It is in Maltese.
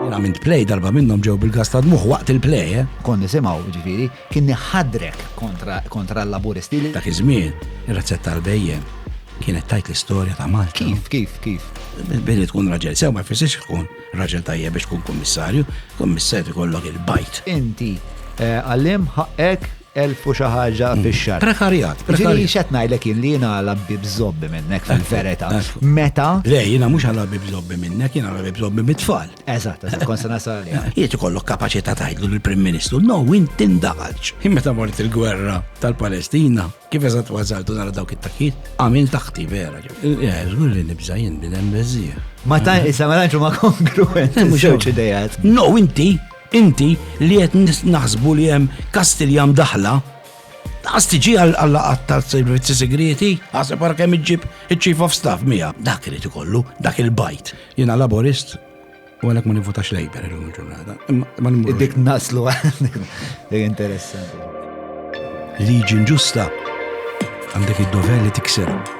Għamilt play darba minnhom ġew bil-gas ta' dmuħ waqt il-play, eh? Kon nisimgħu ġifieri kien ħadrek kontra kontra l-laburisti. Dak iż-żmien ir-razzett tal-bejjem kienet tajt l-istorja ta' Malta. Kif, kif, kif? Billi tkun raġel, sew ma jfissirx tkun raġel tajjeb biex tkun kummissarju, kummissarju kollok il-bajt. Inti eh, għallim ħaqqek Elf u xi ħaġa fix-xahar. Prekarjat, prekarjat. Ġieli x'qed ngħidlek jien li jiena għala bib żobbi minnek fil-verità. Meta? Le, jiena mhux għala bib żobbi minnek, jiena għala bib żobbi mit-tfal. Eżatt, eżatt, kont se nasal għalija. Jiet ikollok kapaċità tgħidlu lill-Prim Ministru, no, win tindaħalx. Jien meta mort il-gwerra tal-Palestina, kif eżatt ważaltu nara dawk it-takkiet, għamil taħti vera. Żgur li nibża jien bidem beżżieħ. Ma ta' issa ma tantx ma kongruent. Mhux idejat. No, inti Inti li qed naħsbu li hemm Kastilja mdaħħla, lanqas tiġi għal-laqgħat tas-servizzi sigrieti? Aħseb ara kemm iġġib iċ-Chief of Staff miegħek. Dak irid ikollu, dak il-bajt. Jiena Laburist u għalhekk ma nivvutax Labour illum il-ġurnata. Imma nimmur. Dik naslu għandek. Dik interessanti. Liġi nġusta għandek id-dover li tiksirha.